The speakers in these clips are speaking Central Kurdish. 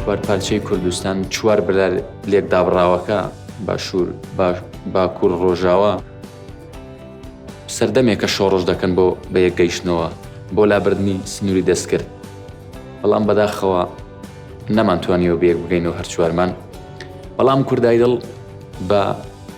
چوار پارچەی کوردستان چوار بلار لێک دابڕاوەکە باشوور باکوور ڕۆژاوە سەردەمێکە شۆڕۆژ دەکەن بۆ بە یەک گەیشتنەوە بۆ لابردنی سنووری دەستکرد بەڵام بەداخەوە نەمانتوانیەوە بێک بگەین و هەرچوارمان بەڵام کوردای دڵ بە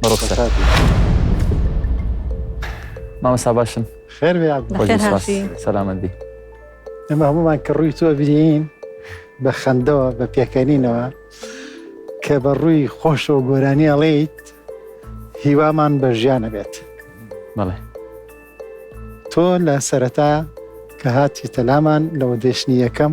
بەڕۆ سەر مامەسا باشن خێر سەلامەت بی ئەمە هەمومان کە ڕووی تۆ بینین بە خەندەوە بە پێکەنینەوە کە بە ڕووی خۆشەوە گۆرانی ئەڵیت هیوامان بە ژیانە بێت بڵێ تۆ لە سەرەتا کە هاتی تەلامان لەوە دێشنی یەکەم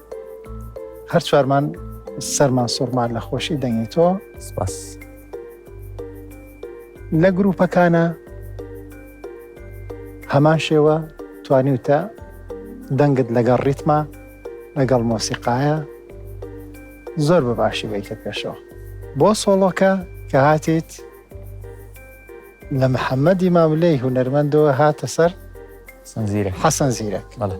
هەر چوارمان سەرمان سوڕمان لە خۆشی دەنگی تۆ سپاس لە گروپەکانە هەمان شێوە توانیوتە دەنگت لەگەڵ ڕیتما لەگەڵ مۆسیقاە زۆر بە باشی بیکە پێشەوە بۆ سۆڵۆکە کە هاتیت لە محەممەدی ماملەی هوەرمەندەوە هاتە سەر حەسەن زیرە حەسەن زیرە بەڵێ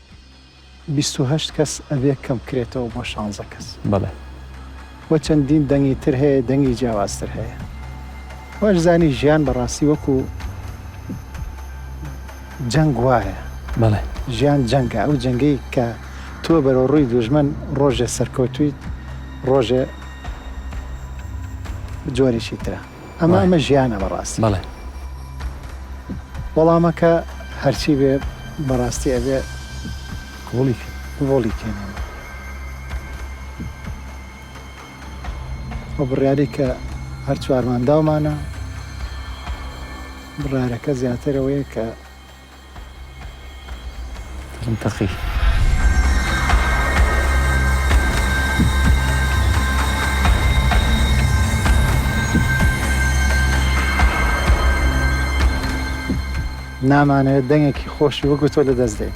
بیست و هەشت کەس ئەبێ کەم کرێتەوە بۆ شانزە کەس. بەڵێ. وە چەندین دەنگی تر هەیە دەنگی جیاوازتر هەیە واش زانی ژیان بەڕاستی وەکو جەنگ وایە بەڵێ. ژیان جەنگە ئەو جەنگەی کە تۆ بەرەو ڕووی دوژمن ڕۆژێ سەرکەوتویت ڕۆژێ جۆرێکی ترە. ئەمە ئەمە ژیانە بەڕاستی بەڵێ وەڵامەکە هەرچی بێ بەڕاستی ئەبێ هۆڵی هۆڵی کێنێن ئەو بڕیاری کە هەر چوارمانداومانە بڕارەکە زیاترەوەیە کە نامانەوێت دەنگێکی خۆشی وەکو تۆ لەدەست دەین.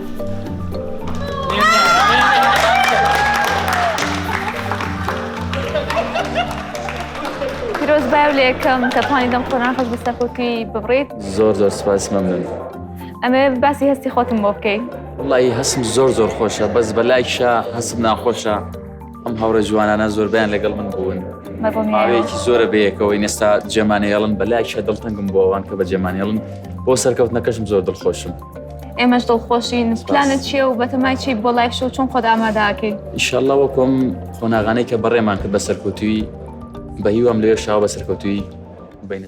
پیرۆز بای و لەکەم کە توانی دەم خۆران خۆش بەسەر خۆکی ببڕیت زۆر زۆر سپاس مەمنون ئەمێ باسی هەستی خۆتم بۆ بکەیت وڵی هەستم زۆر زۆر خۆشە بەس بە لایکشە هەستم ناخۆشە ئەم هاوڕێ جوانانە زۆربیان لەگەڵ من بوون ماوەیەکی زۆرە بەیەکەوەی نێستا جێمانێڵن بە لایکشە دڵتەنگم بۆوان کە بە جێمانێڵن بۆ سەرکەوتنەکەشم زۆر دڵخۆشم. ئێمەش دڵخۆشین پلانت چیە و بەتەمای چی بۆ لایف شو چۆن خۆت ئاماداکەی ئیشەڵە وەکۆم قۆناغانەی کە بەڕێمان کرد بە سەرکەوتوی بە هیوام لێ شاو بە سەرکەوتوی بینە